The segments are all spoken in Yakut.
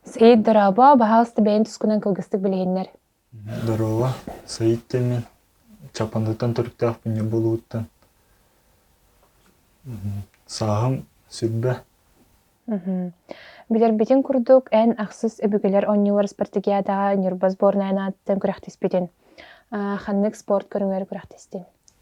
Саид Дорообо, баһаалыста бэйэҥ тускунан кылгыстык билиһиннэр. Здорово, Саид Тэмин. Чапандытан төрүттээх күннэ болууттан. Сааһым сүрбэ. Билэрбитин курдук, эн ахсыс өбүгэлэр онньуулар спартакиадаҕа Ньурба сборная аатыттан күрэхтиспитин. Ханнык спорт көрүҥэр күрэхтистин?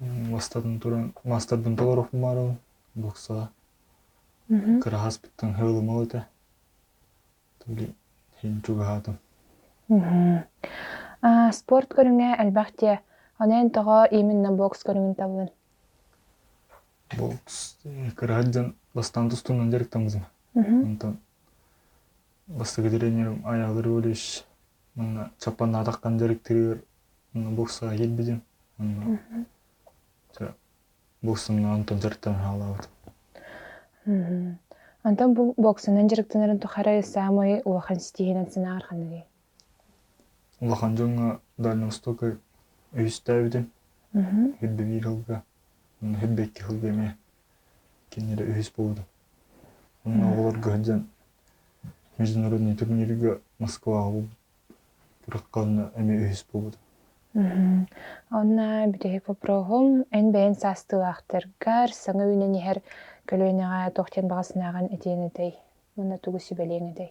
мастарын туран мастардан толору хумаарабын буксаҕа кыраһас биттэн хыылымал этэ то ли иһин чугаһаатым спорт көрүҥэ элбэх диэ аны эн тоҕо именно бокс көрүҥүн табылын бокс кыраһат дьон бастаан тустуунан дьарыктаммытым онтон бастакы тренерим айаалыр валюш Манна саппанаатахтан дьарыктыырыгар манна боксаҕа кэлбитим. Манна боксунан онтон дьарыктан хаалаабыт. Онтон бу боксунан дьарыктанарын тухары саамай улахан ситиһинэн санааҕар ханныгый? Улахан дьоҥҥо Дальнай Восток үһүстээбитим. Үрдэ биир кылга. Манна үрдэ икки кылга эмиэ кинилэр үһүс буолбута. Онон оҕолорго сылдьан международный турнирга Москваҕа быраххаҕына эмиэ үһүс буолбута. Онно бүтэһик вопроһум эн бэйэн саастыылаахтаргар саҥа үүнэн иһэр көлүөнэҕэ туох диэн баҕасынааҕын этиэҥ этэй? Манна тугу сүбэлиэҥ этэй?